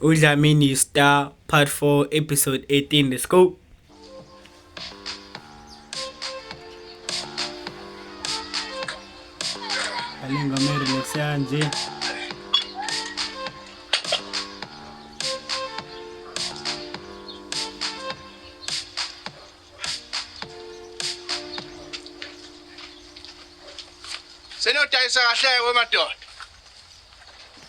Udlamini Star Part 4 Episode 18 Let's go Alenga mere leksanje Senodayisa kahle wemadoda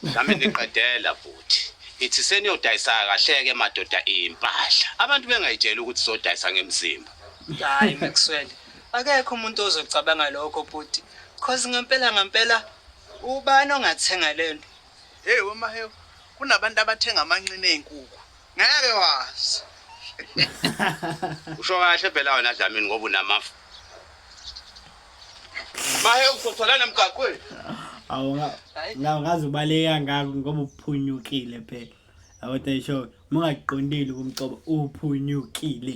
Nami ngiqedela bhuti. Ngithi seniyodayisa kahleke madoda impahla. Abantu bengayitshela ukuthi sodayisa ngemzimba. Hayi Maxwell. Akekho umuntu ozocabanga lokho bhuti. Cause ngempela ngempela ubani ongathenga lento? Hey wemahewu kunabantu abathenga amanqina ey'nkukhu ngeke wazi usho kahle phela wena dlamini ngoba unamafu mahe usothola nemgaqweni awu ngazi ubaleka ngako ngoba uphunyukile phela awuthi isho mungaqondile kumcobo uphunyukile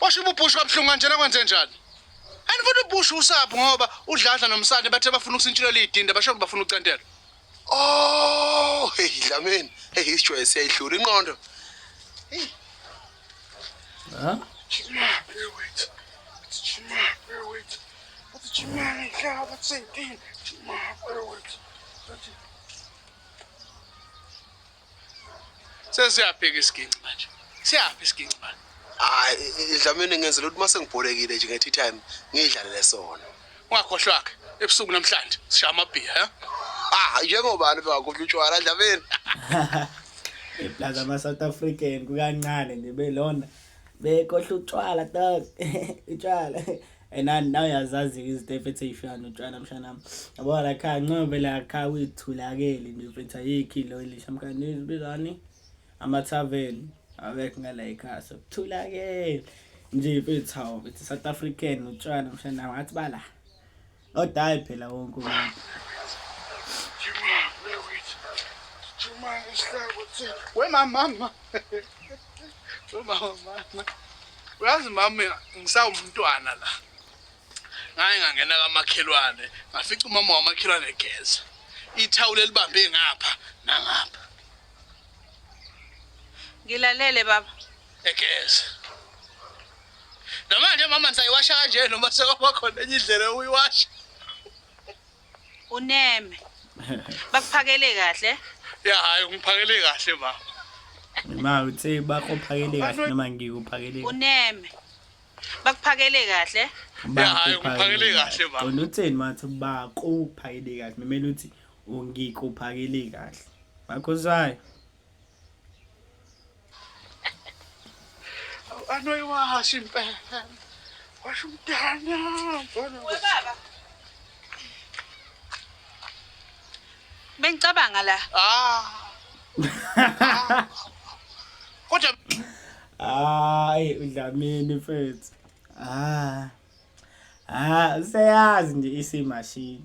Washo ububhushu kabuhlungu kanjena kwenze njani? And futhi ubushu usapho ngoba udladla nomsane bathe bafuna ukusintshilo liyidinda basho bafuna ucentela. Oh, hey Dlamini. Hey isijoye siyayihlula inqondo. Hey. Ha? Chima, bear with. It's Chima, bear with. It's Chima, yeah, that's it. Chima, bear with. That's it. Sesiyabheka isiginci manje. Siyaphi isiginci manje? Hayi, idlamini ngenzela ukuthi mase ngibholekile nje ngethi time ngidlalele sona. Ungakhohlwa ke ebusuku namhlanje sishaya amabhiya, ha? Ah, njengobani bengakhohlwa utshwala dlamini. Eplaza ama South African kukancane nje belona. Bekohla utshwala dog. Utshwala. and I now yazazi izinto efethe ifika notshwala mshanami yabo la kha ncobe la kha uyithulakele into efethe ayikhi lo elisha mkhandi izibizani ama tavern awekho ngala ekhaya sokuthulakele nje mfethu hawo mfethu South African utshwala mshana ngathi bala odayi phela wonke umuntu we mama mama we mama mama uyazi mama mina ngisawumntwana la ngaye ngangena kamakhelwane ngafica umama wamakhelwane egeza ithawula elibambe ngapha nangapha ngilalele baba egeza namanje mama ngisayiwasha kanje noma sekwaba khona enye indlela yokuyiwasha uneme bakuphakele kahle ya hayi ungiphakele kahle baba ma uthe bakuphakele kahle noma ngikuphakele uneme bakuphakele kahle ya hayi ungiphakele kahle baba wena utheni mathi bakuphakele kahle memele uthi ungikuphakele kahle bakho zayo anoiwasha impela washa umntana baba bengicabanga la ah. ah. kodwa hayi udlamini mfethu ah ah seyazi nje isimashini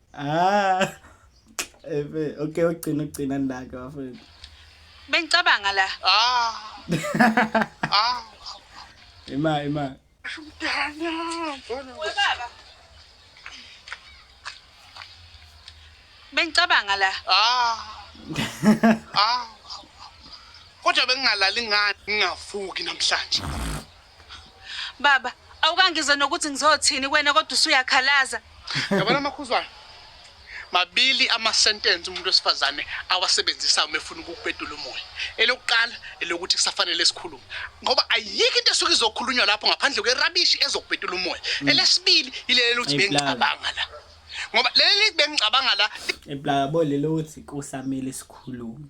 Ah. Efe, okay ugcina ugcina ndake bafethu. Bengicabanga la. Ah. Ah. Ima ima. Umntana, mbona we. Baba. Bengicabanga la. Ah. Ah. Kodwa bengingalali ngani ngingavuki namhlanje. Baba, awukangize nokuthi ngizothini kuwena kodwa usuyakhalaza. Yabona amakhuzwana. Mabili ama sentence umuntu wesifazane awasebenzisayo uma efuna ukukubedula umoya. Elokuqala elokuthi kusafanele sikhulume. Ngoba ayikho into esuke izokhulunywa lapho ngaphandle kwerabishi ezokubedula umoya. Mm. Elesibili ilele lokuthi bengicabanga la. Ngoba leli bengicabanga la. Eplaka bo lelo ukuthi kusamele sikhulume.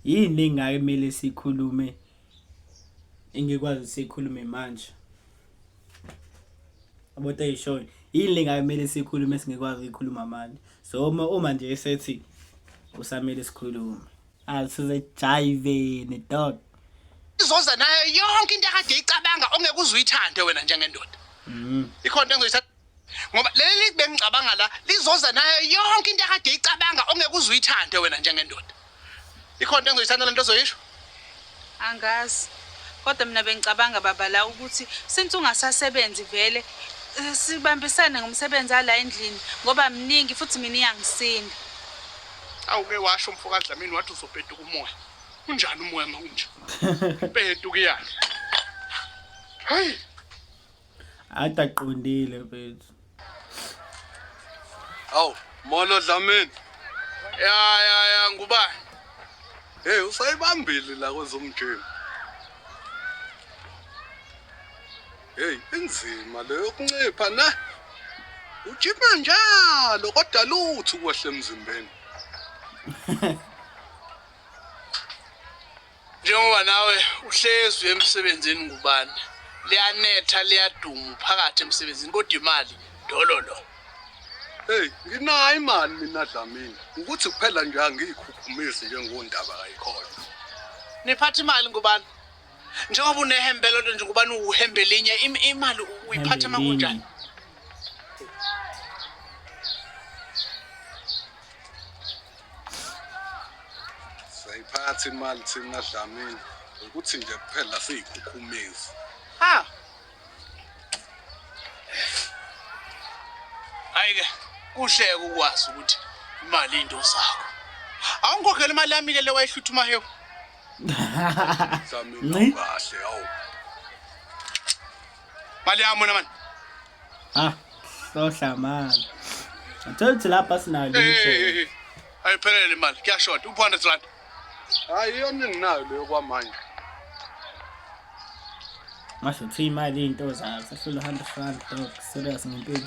Yini engake kumele sikhulume? engikwazi sikhulume manje about ayishoyo yini lengamele sikhulume singekwazi ukuyikhuluma manje so uma uma nje esethi usamele sikhulume asize jive ne dog izoza nayo yonke into akade icabanga ongeke uzuyithande wena njengendoda mhm ikhona engizoyithatha ngoba leli bengicabanga la lizoza nayo yonke into akade icabanga ongeke uze uyithande wena njengendoda ikhona into engizoyithanda le nto ozoyisho angazi kodwa mina bengicabanga baba la ukuthi since ungasasebenzi vele eh, sibambisane ngomsebenzi ala endlini ngoba mningi futhi mina iyangisinda awuke washo umfo kadlamini wathi uzopetuka umoya unjani umoya ma unje petuka iyani hayi Ada qondile mfethu. Awu, molo Dlamini. Ya ya ya ngubani? Hey, usayibambile la kwezomjeni. Hey, inzima le yokuncipha ne. Ujima njalo kodwa lutho ukwehle emzimbeni. Njengoba nawe uhlezi uye emsebenzini ngubani liyanetha liyadumu phakathi emsebenzini kodwa imali dololo Hey, nginayo imali mina Dlamini. Ukuthi kuphela nje angiyikhukhumisi nje ngondaba kayikhona. niphatha imali ngubani njengoba unehembe lodwa nje ngubani uhembe linye im- imali uyiphatha Hembe makunjani linye. siyayiphatha imali thina dlamini ukuthi nje kuphela siyikhukhumezi ha ayike kuhleke ukwazi ukuthi imali into zakho awungikhokhela imali yami ke le wayihlutha umahewu nci kahle awu mali yami wena mani Ah, hlohla mani. Ngithola ukuthi lapha sinayo Hey, hey, hey, lutho. hey. ayiphelele imali kuyashoda u-400 rand hayi iyona enginayo leyo kwamanje Ngasho ukuthi imali into zayo. Sehlula 100 rand dog. Serious ngempilo.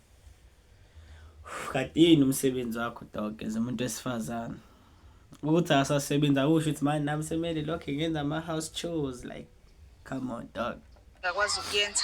Kadini umsebenzi wakho dog as umuntu wesifazane. Ukuthi asasebenzi akusho ukuthi manje nami semele lokho ngenza ama house chores like come on dog. Ngakwazi ukuyenza.